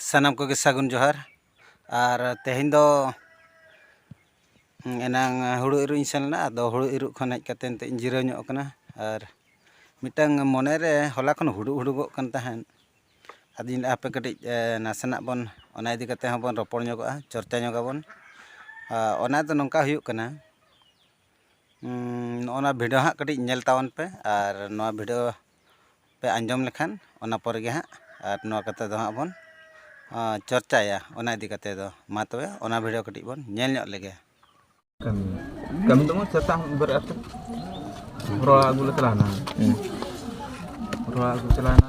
ᱥᱟᱱᱟᱢ ᱠᱚᱜᱮ ᱥᱟᱹᱜᱩᱱ ᱡᱚᱦᱟᱨ ᱟᱨ ᱛᱮᱦᱮᱧ ᱫᱚ ᱮᱱᱟᱝ ᱦᱩᱲᱩ ᱤᱨᱚᱜ ᱤᱧ ᱥᱮᱱ ᱞᱮᱱᱟ ᱟᱫᱚ ᱦᱩᱲᱩ ᱤᱨᱚᱜ ᱠᱷᱚᱱ ᱦᱮᱡ ᱠᱟᱛᱮᱫ ᱱᱤᱛᱚᱜ ᱤᱧ ᱡᱤᱨᱟᱹᱣ ᱧᱚᱜ ᱠᱟᱱᱟ ᱟᱨ ᱢᱤᱫᱴᱟᱝ ᱢᱚᱱᱮ ᱨᱮ ᱦᱚᱞᱟ ᱠᱷᱚᱱ ᱦᱩᱰᱩᱜ ᱦᱩᱰᱩᱜᱚᱜ ᱠᱟᱱ ᱛᱟᱦᱮᱸᱫ ᱟᱫᱚᱧ ᱞᱟᱹᱭᱮᱫᱼᱟ ᱦᱟᱯᱮ ᱠᱟᱹᱴᱤᱡ ᱱᱟᱥᱮᱱᱟᱜ ᱵᱚᱱ ᱚᱱᱟ ᱤᱫᱤ ᱠᱟᱛᱮᱫ ᱦᱚᱸᱵᱚᱱ ᱨᱚᱯᱚᱲ ᱧᱚᱜᱚᱜᱼᱟ ᱪᱚᱨᱪᱟ ᱧᱚᱜᱽ ᱟᱵᱚᱱ ᱚᱱᱟ ᱫᱚ ᱱᱚᱝᱠᱟ ᱦᱩᱭᱩᱜ ᱠᱟᱱᱟ ᱱᱚᱜᱼᱚ ᱱᱟ ᱵᱷᱤᱰᱤᱭᱳ ᱦᱟᱸᱜ ᱠᱟᱹᱴᱤᱡ ᱧᱮᱞ ᱛᱟᱵᱚᱱ ᱯᱮ ᱟᱨ ᱱᱚᱣᱟ ᱵᱷᱤᱰᱤᱭᱳ ᱯᱮ ᱟᱸᱡᱚᱢ ᱞᱮᱠᱷᱟᱱ ᱚᱱᱟ ᱯᱚᱨᱮ ᱜᱮ ᱦᱟᱸᱜ ᱟᱨ ᱱᱚᱣᱟ ᱠᱟᱛᱷᱟ ᱫᱚ ᱦᱟᱸᱜ ᱵᱚᱱ ᱪᱚᱨᱪᱟᱭᱟ ᱚᱱᱟ ᱤᱫᱤ ᱠᱟᱛᱮ ᱫᱚ ᱢᱟ ᱛᱚᱵᱮ ᱚᱱᱟ ᱵᱷᱤᱰᱤᱭᱳ ᱠᱟᱹᱴᱤᱡ ᱵᱚᱱ ᱧᱮᱞ ᱧᱚᱜ ᱞᱮᱜᱮ ᱠᱟᱹᱢᱤ ᱠᱟᱹᱢᱤ ᱫᱚ ᱢᱟ ᱥᱮᱛᱟᱜ ᱵᱮᱨᱮᱫ ᱟᱛᱮ ᱨᱚᱲ ᱟᱹᱜᱩ ᱞᱮ ᱪᱟᱞᱟᱣᱱᱟ ᱨᱚᱲ ᱟᱹᱜᱩ ᱪᱟᱞᱟᱣᱱᱟ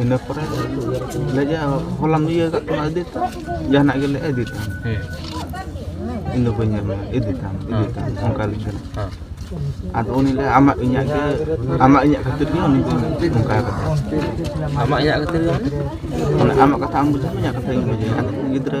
ᱤᱱᱟᱹ ᱯᱚᱨᱮ ᱞᱟᱹᱭᱟ ᱦᱚᱞᱟᱢ ᱤᱭᱟᱹ ᱠᱟᱜ ᱛᱟᱢᱟ ᱤᱫᱤᱛᱟᱢ ᱡᱟᱦᱟᱱᱟᱜ ᱜᱮᱞᱮ ᱤᱫᱤᱛᱟᱢ ᱦᱮᱸ ᱤᱧ ᱫᱚ ᱵᱟᱹᱧ ᱧᱟᱢᱟ ᱤᱫᱤᱛᱟᱢ ᱤᱫᱤᱛᱟᱢ ᱚᱱᱠᱟ ᱞᱤᱧ ᱠᱟᱱᱟ ᱦᱮᱸ ᱟᱫᱚ ᱩᱱᱤ ᱞᱟᱹᱭᱟ ᱟᱢᱟᱜ ᱤᱧᱟᱹᱜ ᱜᱮ ᱟᱢᱟᱜ ᱤᱧᱟᱹᱜ ᱠᱷᱟᱹᱛᱤᱨ ᱜᱮ ᱩᱱᱤ ᱫᱚ ᱚᱱᱠᱟ ᱠᱟᱛᱮ ᱟᱢᱟᱜ ᱤᱧᱟᱹᱜ ᱠᱷᱟᱹᱛᱤᱨ ᱜᱮ ᱢᱟᱱᱮ ᱟᱢᱟᱜ ᱠᱟᱛᱷᱟ ᱟᱢ ᱵᱩᱡᱷᱟᱹᱣᱟ ᱤᱧᱟᱹᱜ ᱠᱟᱛᱷᱟ ᱤᱧ ᱵᱩᱡᱷᱟᱹᱣᱟ ᱟᱫᱚ ᱜᱤᱫᱽᱨᱟᱹ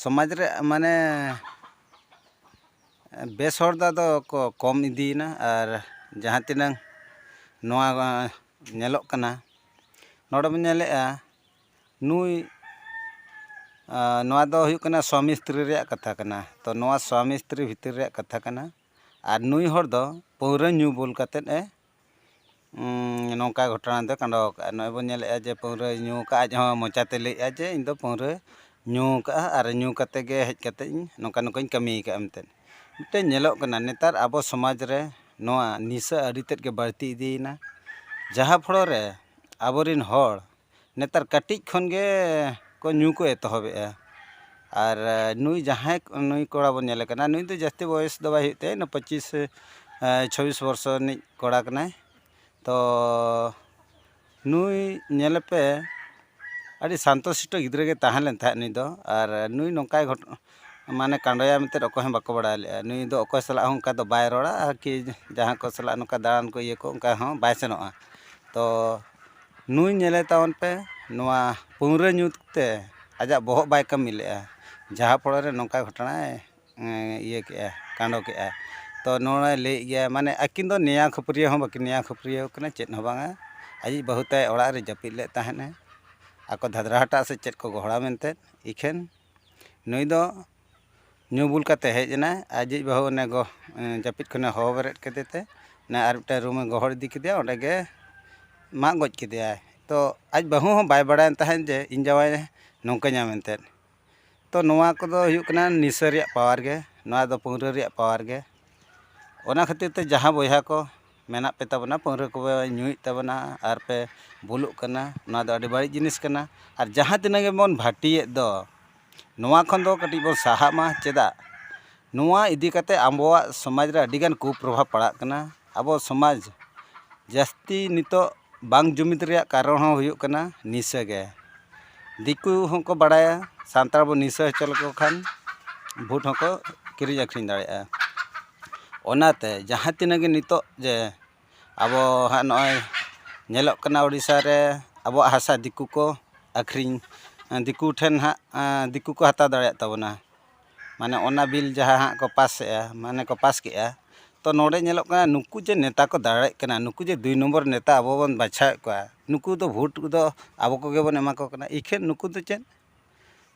ᱥᱚᱢᱟᱡᱽ ᱨᱮ ᱢᱟᱱᱮ ᱵᱮᱥ ᱦᱚᱲ ᱫᱚ ᱟᱫᱚ ᱠᱚ ᱠᱚᱢ ᱤᱫᱤᱭᱮᱱᱟ ᱟᱨ ᱡᱟᱦᱟᱸ ᱛᱤᱱᱟᱹᱝ ᱱᱚᱣᱟ ᱧᱮᱞᱚᱜ ᱠᱟᱱᱟ ᱱᱚᱰᱮ ᱵᱚᱱ ᱧᱮᱞᱮᱫᱼᱟ ᱱᱩᱭ ᱱᱚᱣᱟ ᱫᱚ ᱦᱩᱭᱩᱜ ᱠᱟᱱᱟ ᱥᱟᱢᱤ ᱥᱛᱨᱤ ᱨᱮᱭᱟᱜ ᱠᱟᱛᱷᱟ ᱠᱟᱱᱟ ᱛᱚ ᱱᱚᱣᱟ ᱥᱟᱢᱤ ᱥᱛᱨᱤ ᱵᱷᱤᱛᱤᱨ ᱨᱮᱭᱟᱜ ᱠᱟᱛᱷᱟ ᱠᱟᱱᱟ ᱟᱨ ᱱᱩᱭ ᱦᱚᱲ ᱫᱚ ᱯᱟᱹᱣᱨᱟᱹ ᱧᱩ ᱵᱩᱞ ᱠᱟᱛᱮᱫ ᱮ ᱱᱚᱝᱠᱟ ᱜᱷᱚᱴᱚᱱᱟ ᱫᱚᱭ ᱠᱟᱸᱰᱚ ᱟᱠᱟᱫᱼᱟ ᱱᱚᱜᱼᱚᱭ ᱵᱚᱱ ᱧᱮᱞᱮᱫᱼᱟ ᱡᱮ ᱯᱟᱹᱣᱨᱟᱹᱭ ᱧᱩ ᱟᱠᱟᱫᱼᱟ ᱟᱡ ᱦᱚᱸ ᱢᱚᱪᱟᱛᱮ ᱞᱟᱹᱭᱮᱫᱼᱟ ᱡᱮ ᱤᱧ ᱫᱚ ᱯᱟᱹᱣᱨᱟᱹ ᱧᱩ ᱟᱠᱟᱫᱼᱟ ᱟᱨ ᱧᱩ ᱠᱟᱛᱮᱫ ᱜᱮ ᱦᱮᱡ ᱠᱟᱛᱮᱫ ᱤᱧ ᱱᱚᱝᱠᱟ ᱱᱚᱝᱠᱟᱧ ᱠᱟᱹᱢᱤ ᱟᱠᱟᱫᱼᱟ ᱢᱮᱱᱛᱮ ᱢᱤᱫᱴᱮᱱ ᱧᱮᱞᱚᱜ ᱠᱟᱱᱟ ᱱᱮᱛᱟᱨ ᱟᱵᱚ ᱥᱚᱢᱟᱡᱽ ᱨᱮ ᱱᱚᱣᱟ ᱱᱤᱥᱟᱹ ᱟᱹᱰᱤ ᱛᱮᱫ ᱜᱮ ᱵᱟᱹᱲᱛᱤ ᱤᱫᱤᱭᱮᱱᱟ ᱡᱟᱦᱟᱸ ᱯᱷᱚᱲᱚ ᱨᱮ ᱟᱵᱚ ᱨᱮᱱ ᱦᱚᱲ ᱱᱮᱛᱟᱨ ᱠᱟᱹᱴᱤᱡ ᱠᱷᱚᱱ ᱜᱮ ᱠᱚ ᱧᱩ ᱠᱚ ᱮᱛᱚᱦᱚᱵᱮᱜᱼᱟ ᱟᱨ ᱱᱩᱭ ᱡᱟᱦᱟᱸᱭ ᱱᱩᱭ ᱠᱚᱲᱟ ᱵᱚᱱ ᱧᱮᱞᱮ ᱠᱟᱱᱟ ᱱᱩᱭ ᱫᱚ ᱡᱟᱹᱥᱛᱤ ᱵᱚᱭᱮᱥ ᱫᱚ ᱵᱟᱭ ᱦᱩᱭᱩᱜ ᱛᱟᱭᱟ ᱤᱱᱟᱹ ᱯᱚᱸᱪᱤᱥ ᱪᱷᱚᱵᱵᱤᱥ ᱵᱚᱨᱥᱚ ᱨᱤᱱᱤᱡ ᱠᱚᱲᱟ ᱠᱟᱱᱟᱭ ᱛᱚ ᱱᱩᱭ ᱧᱮᱞᱮ ᱯᱮ ᱟᱹᱰᱤ ᱥᱟᱱᱛᱚ ᱥᱤᱥᱴᱚ ᱜᱤᱫᱽᱨᱟᱹ ᱜᱮ ᱛᱟᱦᱮᱸ ᱞᱮᱱ ᱛᱟᱦᱮᱸᱜ ᱱᱩᱭ ᱫᱚ ᱟᱨ ᱱᱩᱭ ᱱᱚᱝᱠᱟᱭ ᱜᱷᱚᱴᱚᱱᱟ ᱢᱟᱱᱮ ᱠᱟᱸᱰᱚᱭᱟ ᱢᱮᱱᱛᱮ ᱚᱠᱚᱭ ᱦᱚᱸ ᱵᱟᱠᱚ ᱵᱟᱲᱟᱭ ᱞᱮᱜᱼᱟ ᱱᱩᱭ ᱫᱚ ᱚᱠᱚᱭ ᱥᱟᱞᱟᱜ ᱦᱚᱸ ᱚᱱᱠᱟ ᱫᱚ ᱵᱟᱭ ᱨᱚᱲᱟ ᱟᱨᱠᱤ ᱡᱟᱦᱟᱸᱭ ᱠᱚ ᱥᱟᱞᱟᱜ ᱱᱚᱝᱠᱟ ᱫᱟᱬᱟᱱ ᱠᱚ ᱤᱭᱟᱹ ᱠᱚ ᱚᱱᱠᱟ ᱦᱚᱸ ᱵᱟᱭ ᱥᱮᱱᱚᱜᱼᱟ ᱛᱚ ᱱᱩᱭ ᱧᱮᱞᱮ ᱛᱟᱵᱚᱱ ᱯᱮ ᱱᱚᱣᱟ ᱯᱟᱹᱣᱨᱟᱹ ᱧᱩ ᱛᱮ ᱟᱡᱟᱜ ᱵᱚᱦᱚᱜ ᱵᱟᱭ ᱠᱟᱹᱢᱤ ᱞᱮᱫᱼᱟ ᱡᱟᱦᱟᱸ ᱯᱚᱲᱟ ᱨᱮ ᱱᱚᱝᱠᱟ ᱜᱷᱚᱴᱚᱱᱟᱭ ᱤᱭᱟᱹ ᱠᱮᱫᱼᱟ ᱠᱟᱱᱰᱚ ᱠᱮᱫᱼᱟ ᱛᱚ ᱱᱚᱣᱟᱭ ᱞᱟᱹᱭᱮᱫ ᱜᱮᱭᱟ ᱢᱟᱱᱮ ᱟᱹᱠᱤᱱ ᱫᱚ ᱱᱮᱭᱟᱣ ᱠᱷᱟᱹᱯᱟᱹᱨᱤ ᱦᱚᱸ ᱵᱟᱹᱠᱤᱱ ᱱᱮᱭᱟᱣ ᱠᱷᱟᱹᱯᱟᱹᱨᱤ ᱠᱟᱱᱟ ᱪᱮᱫ ᱦᱚᱸ ᱵᱟᱝᱟ ᱟᱹᱭᱤᱡ ᱵᱟᱹᱦᱩ ᱛᱟᱭ ᱚᱲᱟᱜ ᱨᱮ ᱡᱟᱹᱯᱤᱫ ᱞᱮᱫ ᱛᱟᱦᱮᱱᱮ ᱟᱠᱚ ᱫᱷᱟᱫᱽᱨᱟ ᱦᱟᱴᱟᱜ ᱥᱮ ᱪᱮᱫ ᱠᱚ ᱜᱚᱦᱚᱲᱟ ᱢᱮᱱᱛᱮ ᱤᱠᱷᱟᱹᱱ ᱱᱩᱭ ᱫᱚ ᱧᱩ ᱵᱩᱞ ᱠᱟᱛᱮ ᱦᱮᱡ ᱮᱱᱟᱭ ᱟᱡᱤᱡ ᱵᱟᱹᱦᱩ ᱚᱱᱮ ᱜᱚ ᱡᱟᱹᱯᱤᱫ ᱠᱷᱚᱱᱮ ᱦᱚᱦᱚ ᱵᱮᱨᱮᱫ ᱠᱮᱫᱮ ᱛᱮ ᱚᱱᱮ ᱟᱨ ᱢᱤᱫᱴᱮᱱ ᱨᱩᱢᱮ ᱜᱚᱦᱚᱲ ᱤᱫᱤ ᱠᱮᱫᱮᱭᱟ ᱚᱸᱰᱮ ᱜᱮ ᱢᱟᱜ ᱜᱚᱡ ᱠᱮᱫᱮᱭᱟᱭ ᱛᱚ ᱟᱡ ᱵᱟᱹᱦᱩ ᱦᱚᱸ ᱵᱟᱭ ᱵᱟᱲᱟᱭ ᱛᱟᱦᱮᱸᱫ ᱡᱮ ᱤᱧ ᱡᱟᱶᱟᱭ ᱱᱚᱝᱠᱟᱧᱟ ᱢᱮᱱᱛᱮ ᱛᱚ ᱱᱚᱣᱟ ᱠᱚᱫᱚ ᱦᱩᱭᱩᱜ ᱠᱟᱱᱟ ᱱᱤᱥᱟᱹ ᱨᱮᱭᱟᱜ ᱯᱟᱣᱟᱨ ᱜᱮ ᱱᱚᱣᱟ ᱫᱚ ᱯᱟᱹᱣᱨᱟᱹ ᱨᱮᱭᱟᱜ ᱯᱟᱣᱟᱨ ᱜᱮ ᱚᱱᱟ ᱠᱷᱟᱹᱛᱤᱨ ᱛᱮ ᱡᱟᱦᱟᱸ ᱵᱚᱭᱦᱟ ᱠᱚ ᱢᱮᱱᱟᱜ ᱯᱮ ᱛᱟᱵᱚᱱᱟ ᱯᱟᱹᱣᱨᱟᱹ ᱠᱚᱯᱮ ᱧᱩᱭᱮᱫ ᱛᱟᱵᱚᱱᱟ ᱟᱨ ᱯᱮ ᱵᱩᱞᱩᱜ ᱠᱟᱱᱟ ᱱᱚᱣᱟ ᱫᱚ ᱟᱹᱰᱤ ᱵᱟᱹᱲᱤᱡ ᱡᱤᱱᱤᱥ ᱠᱟᱱᱟ ᱟᱨ ᱡᱟᱦᱟᱸ ᱛᱤᱱᱟᱹᱜ ᱜᱮᱵᱚᱱ ᱵᱷᱟᱹᱴᱤᱭᱮᱫ ᱫᱚ ᱱᱚᱣᱟ ᱠᱷᱚᱱ ᱫᱚ ᱠᱟᱹᱴᱤᱡ ᱵᱚᱱ ᱥᱟᱦᱟᱜ ᱢᱟ ᱪᱮᱫᱟᱜ ᱱᱚᱣᱟ ᱤᱫᱤ ᱠᱟᱛᱮᱫ ᱟᱵᱚᱣᱟᱜ ᱥᱚᱢᱟᱡᱽ ᱨᱮ ᱟᱹᱰᱤ ᱜᱟᱱ ᱠᱩᱯᱨᱚᱵᱷᱟᱵᱽ ᱯᱟᱲᱟᱜ ᱠᱟᱱᱟ ᱟᱵᱚ ᱥᱚᱢᱟᱡᱽ ᱡᱟᱹᱥᱛᱤ ᱱᱤᱛᱚᱜ ᱵᱟᱝ ᱡᱩᱢᱤᱫ ᱨᱮᱭᱟᱜ ᱠᱟᱨᱚᱱ ᱦᱚᱸ ᱦᱩᱭᱩᱜ ᱠᱟᱱᱟ ᱱᱤᱥᱟᱹ ᱜᱮ ᱫᱤᱠᱩ ᱦᱚᱸᱠᱚ ᱵᱟᱲᱟᱭᱟ ᱥᱟᱱᱛᱟᱲ ᱵᱚᱱ ᱱᱤᱥᱟᱹ ᱦᱚᱪᱚ ᱞᱮᱠᱚ ᱠᱷᱟᱱ ᱵᱷᱳᱴ ᱦᱚᱸᱠᱚ ᱠᱤᱨᱤᱧ ᱟᱹᱠᱷᱨᱤᱧ ᱫᱟᱲᱮᱭᱟᱜᱼᱟ ᱚᱱᱟᱛᱮ ᱡᱟᱦᱟᱸ ᱛᱤᱱᱟᱹᱜ ᱜᱮ ᱱᱤᱛᱚᱜ ᱡᱮ ᱟᱵᱚ ᱦᱟᱸᱜ ᱱᱚᱜᱼᱚᱭ ᱧᱮᱞᱚᱜ ᱠᱟᱱᱟ ᱳᱰᱤᱥᱟ ᱨᱮ ᱟᱵᱚᱣᱟᱜ ᱦᱟᱥᱟ ᱫᱤᱠᱩ ᱠᱚ ᱟᱹᱠᱷᱨᱤᱧ ᱫᱤᱠᱩ ᱴᱷᱮᱱ ᱦᱟᱸᱜ ᱫᱤᱠᱩ ᱠᱚ ᱦᱟᱛᱟᱣ ᱫᱟᱲᱮᱭᱟᱜ ᱛᱟᱵᱚᱱᱟ ᱢᱟᱱᱮ ᱚᱱᱟ ᱵᱤᱞ ᱡᱟᱦᱟᱸ ᱦᱟᱸᱜ ᱠᱚ ᱯᱟᱥ ᱮᱜᱼᱟ ᱢᱟᱱᱮ ᱠᱚ ᱯᱟᱥ ᱠᱮᱜᱼᱟ ᱛᱚ ᱱᱚᱰᱮ ᱧᱮᱞᱚᱜ ᱠᱟᱱᱟ ᱱᱩᱠᱩ ᱡᱮ ᱱᱮᱛᱟ ᱠᱚ ᱫᱟᱲᱮᱜ ᱠᱟᱱᱟ ᱱᱩᱠᱩ ᱡᱮ ᱫᱩᱭ ᱱᱚᱢᱵᱚᱨ ᱱᱮᱛᱟ ᱟᱵᱚ ᱵᱚᱱ ᱵᱟᱪᱷᱟᱣᱮᱜ ᱠᱚᱣᱟ ᱱᱩᱠᱩ ᱫᱚ ᱵᱷᱳᱴ ᱫᱚ ᱟᱵᱚ ᱠᱚᱜᱮ ᱵᱚᱱ ᱮᱢᱟ ᱠᱚ ᱠᱟᱱᱟ ᱤᱠᱷᱟᱹᱱ ᱱᱩᱠᱩ ᱫᱚ ᱪᱮᱫ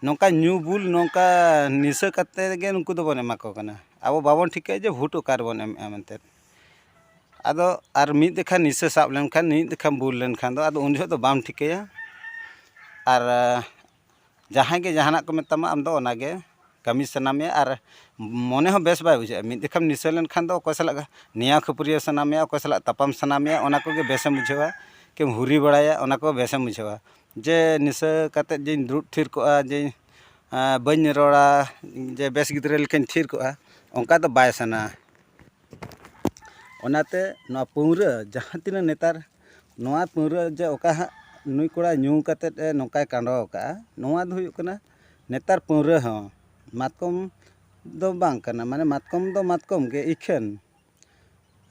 ᱱᱚᱝᱠᱟ ᱧᱩ ᱵᱩᱞ ᱱᱚᱝᱠᱟ ᱱᱤᱥᱟᱹ ᱠᱟᱛᱮ ᱜᱮ ᱱᱩᱠᱩ ᱫᱚᱵᱚᱱ ᱮᱢᱟ ᱠᱚ ᱠᱟᱱᱟ ᱟᱵᱚ ᱵᱟᱵᱚᱱ ᱴᱷᱤᱠᱟᱹᱭᱮᱜᱼᱟ ᱡᱮ ᱵᱷᱳᱴ ᱚᱠᱟ ᱨᱮᱵᱚᱱ ᱮᱢᱮᱜᱼᱟ ᱢᱮᱱᱛᱮ ᱟᱫᱚ ᱟᱨ ᱢᱤᱫ ᱫᱮᱠᱷᱟ ᱱᱤᱥᱟᱹ ᱥᱟᱵ ᱞᱮᱱᱠᱷᱟᱱ ᱢᱤᱫ ᱫᱮᱠᱷᱟ ᱵᱩᱞ ᱞᱮᱱᱠᱷᱟᱱ ᱫᱚ ᱟᱫᱚ ᱩᱱ ᱡᱚᱦᱚᱜ ᱫᱚ ᱵᱟᱢ ᱴᱷᱤᱠᱟᱹᱭᱟ ᱟᱨ ᱡᱟᱦᱟᱸᱭ ᱜᱮ ᱡᱟᱦᱟᱱᱟᱜ ᱠᱚ ᱢᱮᱛᱟᱢᱟ ᱟᱢᱫᱚ ᱚᱱᱟᱜᱮ ᱠᱟᱹᱢᱤ ᱥᱟᱱᱟ ᱢᱮᱭᱟ ᱟᱨ ᱢᱚᱱᱮ ᱦᱚᱸ ᱵᱮᱥ ᱵᱟᱭ ᱵᱩᱡᱷᱟᱹᱜᱼᱟ ᱢᱤᱫ ᱫᱮᱠᱷᱟᱢ ᱱᱤᱥᱟᱹ ᱞᱮᱱᱠᱷᱟᱱ ᱫᱚ ᱚᱠᱚᱭ ᱥᱟᱞᱟᱜ ᱱᱮᱭᱟᱣ ᱠᱷᱟᱹᱯᱟᱹᱨᱤᱭᱟᱹᱣ ᱥᱟᱱᱟ ᱢᱮᱭᱟ ᱚᱠᱚᱭ ᱥᱟᱞᱟᱜ ᱛᱟᱯᱟᱢ ᱥᱟᱱᱟ ᱢᱮᱭᱟ ᱚᱱᱟ ᱠᱚᱜᱮ ᱵᱮᱥᱮᱢ ᱵᱩᱡᱷᱟᱹᱣᱟ ᱠᱤᱢ ᱦᱩᱨᱤ ᱵᱟᱲᱟᱭᱟ ᱚᱱᱟ ᱠᱚ ᱵᱮᱥᱮᱢ ᱵᱩᱡᱷᱟᱹᱣᱟ ᱡᱮ ᱱᱤᱥᱟᱹ ᱠᱟᱛᱮᱫ ᱡᱮᱧ ᱫᱩᱲᱩᱵ ᱛᱷᱤᱨ ᱠᱚᱜᱼᱟ ᱡᱮ ᱵᱟᱹᱧ ᱨᱚᱲᱟ ᱡᱮ ᱵᱮᱥ ᱜᱤᱫᱽᱨᱟᱹ ᱞᱮᱠᱟᱧ ᱛᱷᱤᱨ ᱠᱚᱜᱼᱟ ᱚᱱᱠᱟ ᱫᱚ ᱵᱟᱭ ᱥᱟᱱᱟᱣᱟ ᱚᱱᱟᱛᱮ ᱱᱚᱣᱟ ᱯᱟᱹᱣᱨᱟᱹ ᱡᱟᱦᱟᱸ ᱛᱤᱱᱟᱹᱜ ᱱᱮᱛᱟᱨ ᱱᱚᱣᱟ ᱯᱟᱹᱣᱨᱟᱹ ᱡᱮ ᱚᱠᱟ ᱦᱟᱸᱜ ᱱᱩᱭ ᱠᱚᱲᱟ ᱧᱩ ᱠᱟᱛᱮ ᱮ ᱱᱚᱝᱠᱟᱭ ᱠᱟᱸᱰᱚ ᱟᱠᱟᱫᱼᱟ ᱱᱚᱣᱟ ᱫᱚ ᱦᱩᱭᱩᱜ ᱠᱟᱱᱟ ᱱᱮᱛᱟᱨ ᱯᱟᱹᱣᱨᱟᱹ ᱦᱚᱸ ᱢᱟᱛᱠᱚᱢ ᱫᱚ ᱵᱟᱝ ᱠᱟᱱᱟ ᱢᱟᱱᱮ ᱢᱟᱛᱠᱚᱢ ᱫᱚ ᱢᱟᱛᱠᱚᱢ ᱜᱮ ᱤᱠᱷᱟᱹᱱ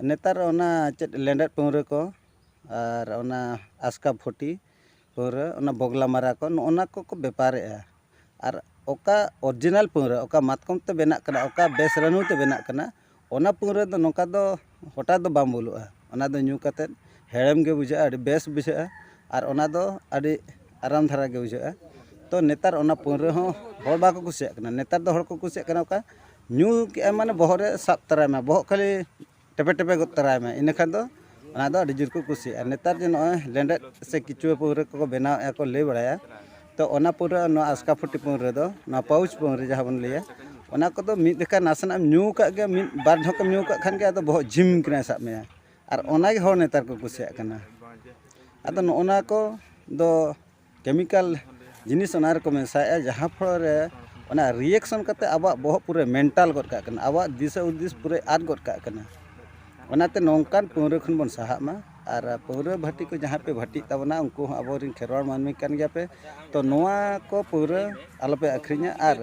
ᱱᱮᱛᱟᱨ ᱚᱱᱟ ᱪᱮᱫ ᱞᱮᱸᱰᱮᱫ ᱯᱟᱹᱣᱨᱟᱹ ᱠᱚ ᱟᱨ ᱚᱱᱟ ᱟᱥᱠᱟᱯᱷᱩᱴᱤ ᱯᱟᱹᱣᱨᱟᱹ ᱚᱱᱟ ᱵᱚᱜᱽᱞᱟ ᱢᱟᱨᱟ ᱠᱚ ᱱᱚᱜᱼᱚ ᱱᱟ ᱠᱚᱠᱚ ᱵᱮᱯᱟᱨᱮᱜᱼᱟ ᱟᱨ ᱚᱠᱟ ᱚᱨᱤᱡᱤᱱᱟᱞ ᱯᱟᱹᱣᱨᱟᱹ ᱚᱠᱟ ᱢᱟᱛᱠᱚᱢ ᱛᱮ ᱵᱮᱱᱟᱜ ᱠᱟᱱᱟ ᱚᱠᱟ ᱵᱮᱥ ᱨᱟᱹᱱᱩ ᱛᱮ ᱵᱮᱱᱟᱜ ᱠᱟᱱᱟ ᱚᱱᱟ ᱯᱟᱹᱣᱨᱟᱹ ᱫᱚ ᱱᱚᱝᱠᱟ ᱫᱚ ᱦᱚᱴᱟᱛ ᱫᱚ ᱵᱟᱝ ᱵᱩᱞᱩᱜᱼᱟ ᱚᱱᱟ ᱫᱚ ᱧᱩ ᱠᱟᱛᱮᱫ ᱦᱮᱲᱮᱢ ᱜᱮ ᱵᱩᱡᱷᱟᱹᱜᱼᱟ ᱟᱹᱰᱤ ᱵᱮᱥ ᱵᱩᱡᱷᱟᱹᱜᱼᱟ ᱟᱨ ᱚᱱᱟ ᱫᱚ ᱟᱹᱰᱤ ᱟᱨᱟᱢ ᱫᱷᱟᱨᱟ ᱜᱮ ᱵᱩᱡᱷᱟᱹᱜᱼᱟ ᱛᱚ ᱱᱮᱛᱟᱨ ᱚᱱᱟ ᱯᱟᱹᱣᱨᱟᱹ ᱦᱚᱸ ᱦᱚᱲ ᱵᱟᱠᱚ ᱠᱩᱥᱤᱭᱟᱜ ᱠᱟᱱᱟ ᱱᱮᱛᱟᱨ ᱫᱚ ᱦᱚᱲ ᱠᱚ ᱠᱩᱥᱤᱭᱟᱜ ᱠᱟᱱᱟ ᱚᱠᱟ ᱧᱩ ᱠᱮᱜ ᱟᱢ ᱢᱟᱱᱮ ᱵᱚᱦᱚᱜ ᱨᱮ ᱥᱟᱵ ᱛᱟᱨᱟᱭᱮᱱᱟ ᱵᱚᱦᱚᱜ ᱠᱷᱟᱹᱞᱤ ᱴᱮᱯᱮ ᱴᱮᱯᱮ ᱜᱚᱫ ᱛᱚᱨᱟᱭ ᱢᱮ ᱤᱱᱟᱹ ᱠᱷᱟᱱ ᱫᱚ ᱚᱱᱟ ᱫᱚ ᱟᱹᱰᱤ ᱡᱳᱨ ᱠᱚ ᱠᱩᱥᱤᱭᱟᱜᱼᱟ ᱱᱮᱛᱟᱨ ᱡᱮ ᱱᱚᱜᱼᱚᱭ ᱞᱮᱸᱰᱮᱫ ᱥᱮ ᱠᱤᱪᱩᱣᱟᱹ ᱯᱟᱹᱣᱨᱟᱹ ᱠᱚᱠᱚ ᱵᱮᱱᱟᱣ ᱮᱫᱟ ᱠᱚ ᱞᱟᱹᱭ ᱵᱟᱲᱟᱭᱟ ᱛᱚ ᱚᱱᱟ ᱯᱟᱹᱣᱨᱟᱹ ᱟᱨ ᱱᱚᱣᱟ ᱟᱥᱠᱟ ᱯᱷᱩᱴᱤ ᱯᱟᱹᱣᱨᱟᱹ ᱫᱚ ᱱᱚᱣᱟ ᱯᱟᱣᱩᱪ ᱯᱟᱹᱣᱨᱟᱹ ᱡᱟᱦᱟᱸ ᱵᱚᱱ ᱞᱟᱹᱭᱟ ᱚᱱᱟ ᱠᱚᱫᱚ ᱢᱤᱫ ᱡᱚᱠᱷᱟᱡ ᱱᱟᱥᱮᱱᱟᱜ ᱮᱢ ᱧᱩ ᱠᱟᱜ ᱜᱮ ᱢᱤᱫ ᱵᱟᱨ ᱰᱷᱚᱠ ᱮᱢ ᱧᱩ ᱠᱟᱜ ᱠᱷᱟᱱ ᱜᱮ ᱟᱫᱚ ᱵᱚᱦᱚᱜ ᱡᱷᱤᱢ ᱠᱮᱱᱮᱥ ᱟᱜ ᱢᱮᱭᱟ ᱟᱨ ᱚᱱᱟᱜᱮ ᱦᱚᱲ ᱱᱮᱛᱟᱨ ᱠᱚ ᱠᱩᱥᱤᱭᱟᱜ ᱠᱟᱱᱟ ᱟᱫᱚ ᱱᱚᱜᱼᱚ ᱱᱚᱣᱟ ᱠᱚᱫᱚ ᱠᱮᱢᱤᱠᱟᱞ ᱡᱤᱱᱤᱥ ᱚᱱᱟ ᱨᱮᱠᱚ ᱢᱮᱥᱟᱭᱮᱜᱼᱟ ᱡᱟᱦᱟᱸ ᱯᱷᱚᱞᱚ ᱨᱮ ᱚᱱᱟ ᱨᱤᱭᱮᱠᱥᱚᱱ ᱠᱟᱛᱮᱫ ᱟᱵᱚᱣᱟᱜ ᱵᱚᱦᱚᱜ ᱯᱩᱨᱟᱹ ᱢᱮᱱᱴᱟᱞ ᱜᱚᱫ ᱠᱟᱜ ᱠᱟᱱᱟ ᱟᱵᱚᱣᱟᱜ ᱫᱤᱥᱟᱹ ᱦᱩᱫᱤᱥ ᱯᱩᱨᱟᱹᱭ ᱟᱫ ᱜᱚᱫ ᱠᱟᱜ ᱠᱟᱱᱟ ᱚᱱᱟᱛᱮ ᱱᱚᱝᱠᱟᱱ ᱯᱟᱹᱣᱨᱟᱹ ᱠᱷᱚᱱ ᱵᱚᱱ ᱥᱟᱦᱟᱜ ᱢᱟ ᱟᱨ ᱯᱟᱹᱣᱨᱟᱹ ᱵᱷᱟᱹᱴᱤ ᱠᱚ ᱡᱟᱦᱟᱸ ᱯᱮ ᱵᱷᱟᱹᱴᱤᱜ ᱛᱟᱵᱚᱱᱟ ᱩᱱᱠᱩ ᱦᱚᱸ ᱟᱵᱚ ᱨᱮᱱ ᱠᱷᱮᱨᱣᱟᱲ ᱢᱟᱹᱱᱢᱤ ᱠᱟᱱ ᱜᱮᱭᱟ ᱯᱮ ᱛᱚ ᱱᱚᱣᱟ ᱠᱚ ᱯᱟᱹᱣᱨᱟᱹ ᱟᱞᱚ ᱯᱮ ᱟᱹᱠᱷᱨᱤᱧᱟ ᱟᱨ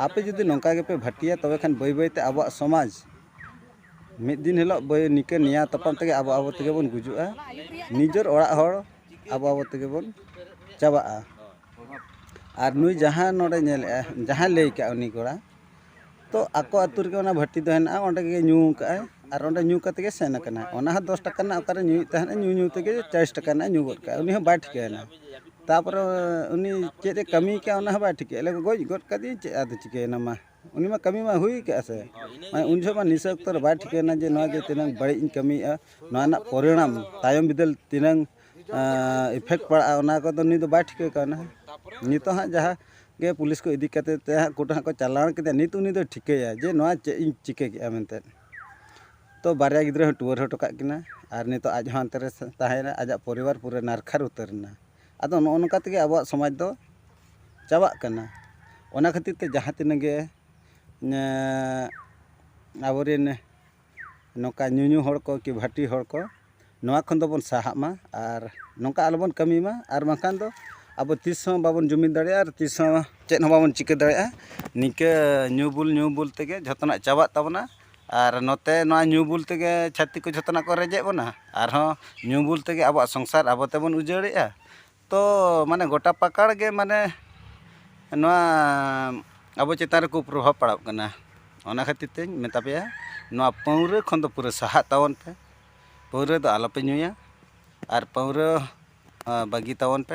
ᱟᱯᱮ ᱡᱩᱫᱤ ᱱᱚᱝᱠᱟ ᱜᱮᱯᱮ ᱵᱷᱟᱹᱴᱤᱭᱟ ᱛᱚᱵᱮ ᱠᱷᱟᱱ ᱵᱟᱹᱭ ᱵᱟᱹᱭ ᱛᱮ ᱟᱵᱚᱣᱟᱜ ᱥᱚᱢᱟᱡᱽ ᱢᱤᱫ ᱫᱤᱱ ᱦᱤᱞᱳᱜ ᱵᱟᱹᱭ ᱱᱤᱠᱟᱹ ᱱᱮᱭᱟ ᱛᱟᱯᱟᱢ ᱛᱮᱜᱮ ᱟᱵᱚ ᱟᱵᱚ ᱛᱮᱜᱮ ᱵᱚᱱ ᱜᱩᱡᱩᱜᱼᱟ ᱱᱤᱡᱮᱨ ᱚᱲᱟᱜ ᱦᱚᱲ ᱟᱵᱚ ᱟᱵᱚ ᱛᱮᱜᱮ ᱵᱚᱱ ᱪᱟᱵᱟᱜᱼᱟ ᱟᱨ ᱱᱩᱭ ᱡᱟᱦᱟᱸ ᱱᱚᱰᱮ ᱧᱮᱞᱮᱜᱼᱟᱭ ᱡᱟᱦᱟᱸᱭ ᱞᱟᱹᱭ ᱠᱟᱜᱼᱟ ᱩᱱᱤ ᱠᱚᱲᱟ ᱛᱚ ᱟᱠᱚ ᱟᱛᱳ ᱨᱮᱜᱮ ᱚᱱᱟ ᱵᱷᱟᱹᱴᱤ ᱫᱚ ᱦᱮᱱᱟᱜᱼᱟ ᱚᱸᱰᱮ ᱜᱮ ᱧᱩ ᱠᱟᱜ ᱟᱭ ᱟᱨ ᱚᱸᱰᱮ ᱧᱩ ᱠᱟᱛᱮ ᱜᱮ ᱥᱮᱱ ᱠᱟᱱᱟᱭ ᱚᱱᱟ ᱦᱚᱸ ᱫᱚᱥ ᱴᱟᱠᱟ ᱨᱮᱱᱟᱜ ᱚᱠᱟᱨᱮ ᱧᱩᱭᱮᱫ ᱛᱟᱦᱮᱱᱟ ᱧᱩ ᱧᱩ ᱛᱮᱜᱮ ᱪᱟᱞᱤᱥ ᱴᱟᱠᱟ ᱨᱮᱱᱟᱜ ᱧᱩ ᱜᱚᱫ ᱠᱟᱜᱼᱟᱭ ᱩᱱᱤ ᱦᱚᱸ ᱵᱟᱭ ᱴᱷᱤᱠᱟᱹᱭᱮᱱᱟ ᱛᱟᱨᱯᱚᱨᱮ ᱩᱱᱤ ᱪᱮᱫ ᱮ ᱠᱟᱹᱢᱤ ᱠᱟᱜᱼᱟ ᱚᱱᱟ ᱦᱚᱸ ᱵᱟᱭ ᱴᱷᱤᱠᱟᱹᱭᱮᱜᱼᱟ ᱜᱚᱡ ᱜᱚᱫ ᱠᱟᱫᱮᱭᱟᱹᱧ ᱪᱮᱫ ᱟᱫᱚ ᱪᱤᱠᱟᱹᱭᱮᱱᱟ ᱢᱟ ᱩᱱᱤ ᱢᱟ ᱠᱟᱹᱢᱤ ᱢᱟ ᱦᱩᱭ ᱠᱟᱜᱼᱟ ᱥᱮ ᱢᱟᱱᱮ ᱩᱱ ᱡᱚᱦᱚᱜ ᱢᱟ ᱱᱤᱥᱟᱹ ᱚᱠᱛᱚ ᱨᱮ ᱵᱟᱭ ᱴᱷᱤᱠᱟᱹᱭᱮᱱᱟ ᱡᱮ ᱱᱚᱣᱟ ᱡᱮ ᱛᱤᱱᱟᱹᱝ ᱵᱟᱹᱲᱤᱡ ᱤᱧ ᱠᱟᱹᱢᱤᱭᱮᱜᱼᱟ ᱱᱚᱣᱟ ᱨᱮᱱᱟᱜ ᱯᱚᱨᱤᱱᱟᱢ ᱛᱟᱭᱚᱢ ᱵᱤᱫᱟᱹᱞ ᱛᱤᱱᱟᱹᱝ ᱤᱯᱷᱮᱠᱴ ᱯᱟᱲᱟᱜᱼᱟ ᱚᱱᱟ ᱠᱚᱫᱚ ᱱᱩᱭ ᱫᱚ ᱵᱟᱭ ᱴᱷᱤᱠᱟᱹ ᱠᱟᱣᱱᱟ ᱱᱤᱛᱚᱜ ᱦᱟᱸᱜ ᱡᱟᱦᱟᱸ ᱜᱮ ᱯᱩᱞᱤᱥ ᱠᱚ ᱤᱫᱤ ᱠᱟᱛᱮ ᱛᱮ ᱦᱟᱸᱜ ᱠᱳᱨᱴ ᱦᱟᱸᱜ ᱠᱚ ᱪᱟᱞᱟᱣ ᱠᱮᱫᱮᱭᱟ ᱱᱤᱛ ᱩᱱᱤ ᱫᱚᱭ ᱴᱷᱤᱠᱟᱹᱭᱟ ᱡᱮ ᱱᱚᱣᱟ ᱪᱮᱫ ᱤᱧ ᱪᱤᱠᱟᱹ ᱠᱮᱜᱼᱟ ᱢᱮᱱᱛᱮ ᱛᱚ ᱵᱟᱨᱭᱟ ᱜᱤᱫᱽᱨᱟᱹ ᱦᱚᱸ ᱴᱩᱣᱟᱹᱨ ᱦᱚᱴᱚ ᱠᱟᱜ ᱠᱤᱱᱟ ᱟᱨ ᱱᱤᱛᱚᱜ ᱟᱡ ᱦᱚᱸ ᱦᱟᱱᱛᱮ ᱨᱮ ᱛᱟᱦᱮᱸᱭᱮᱱᱟ ᱟᱡᱟᱜ ᱯᱚᱨᱤᱵᱟᱨ ᱯᱩᱨᱟᱹ ᱱᱟᱨᱠᱷᱟᱨ ᱩᱛᱟᱹᱨᱮᱱᱟ ᱟᱫᱚ ᱱᱚᱜᱼᱚ ᱱᱚᱝᱠᱟ ᱛᱮᱜᱮ ᱟᱵᱚᱣᱟᱜ ᱥᱚᱢᱟᱡᱽ ᱫᱚ ᱪᱟᱵᱟᱜ ᱠᱟᱱᱟ ᱚᱱᱟ ᱠᱷᱟᱹᱛᱤᱨ ᱛᱮ ᱡᱟᱦᱟᱸ ᱛᱤᱱᱟᱹᱜ ᱜᱮ ᱟᱵᱚ ᱨᱮᱱ ᱱᱚᱝᱠᱟ ᱧᱩ ᱧᱩ ᱦᱚᱲ ᱠᱚ ᱠᱤ ᱵᱷᱟᱹᱴᱤ ᱦᱚᱲ ᱠᱚ ᱱᱚᱣᱟ ᱠᱷᱚᱱ ᱫᱚᱵᱚᱱ ᱥᱟᱦᱟᱜ ᱢᱟ ᱟᱨ ᱱᱚᱝᱠᱟ ᱟᱞᱚ ᱵᱚᱱ ᱠᱟᱹᱢᱤ ᱢᱟ ᱟᱨ ᱵᱟᱝᱠᱷᱟᱱ ᱫᱚ ᱟᱵᱚ ᱛᱤᱥ ᱦᱚᱸ ᱵᱟᱵᱚᱱ ᱡᱩᱢᱤᱫ ᱫᱟᱲᱮᱭᱟᱜᱼᱟ ᱟᱨ ᱛᱤᱥ ᱦᱚᱸ ᱪᱮᱫ ᱦᱚᱸ ᱵᱟᱵᱚᱱ ᱪᱤᱠᱟᱹ ᱫᱟᱲᱮᱭᱟᱜᱼᱟ ᱱᱤᱝᱠᱟᱹ ᱧᱩ ᱵᱩᱞ ᱧᱩ ᱵᱩᱞ ᱛᱮᱜᱮ ᱡᱚᱛᱚᱱᱟᱜ ᱪᱟᱵᱟᱜ ᱛᱟᱵᱚᱱᱟ ᱟᱨ ᱱᱚᱛᱮ ᱱᱚᱣᱟ ᱧᱩ ᱵᱩᱞ ᱛᱮᱜᱮ ᱪᱷᱟᱹᱛᱤᱠ ᱠᱚ ᱡᱚᱛᱚᱱᱟᱜ ᱠᱚ ᱨᱮᱡᱮᱫ ᱵᱚᱱᱟ ᱟᱨᱦᱚᱸ ᱧᱩ ᱵᱩᱞ ᱛᱮᱜᱮ ᱟᱵᱚᱣᱟᱜ ᱥᱚᱝᱥᱟᱨ ᱟᱵᱚ ᱛᱮᱵᱚᱱ ᱩᱡᱟᱹᱲᱮᱜᱼᱟ ᱛᱚ ᱢᱟᱱᱮ ᱜᱚᱴᱟ ᱯᱟᱠᱟᱲ ᱜᱮ ᱢᱟᱱᱮ ᱱᱚᱣᱟ ᱟᱵᱚ ᱪᱮᱛᱟᱱ ᱨᱮ ᱠᱩᱯᱨᱚᱵᱷᱟᱵᱽ ᱯᱟᱲᱟᱜ ᱠᱟᱱᱟ ᱚᱱᱟ ᱠᱷᱟᱹᱛᱤᱨ ᱛᱤᱧ ᱢᱮᱛᱟ ᱯᱮᱭᱟ ᱱᱚᱣᱟ ᱯᱟᱹᱣᱨᱟᱹ ᱠᱷᱚᱱ ᱫᱚ ᱯᱩᱨᱟᱹ ᱥᱟᱦᱟᱜ ᱛᱟᱵᱚᱱ ᱯᱮ ᱯᱟᱹᱣᱨᱟᱹ ᱫᱚ ᱟᱞᱚᱯᱮ ᱧᱩᱭᱟ ᱟᱨ ᱯᱟᱹᱣᱨᱟᱹ ᱵᱟᱹᱜᱤ ᱛᱟᱵᱚᱱ ᱯᱮ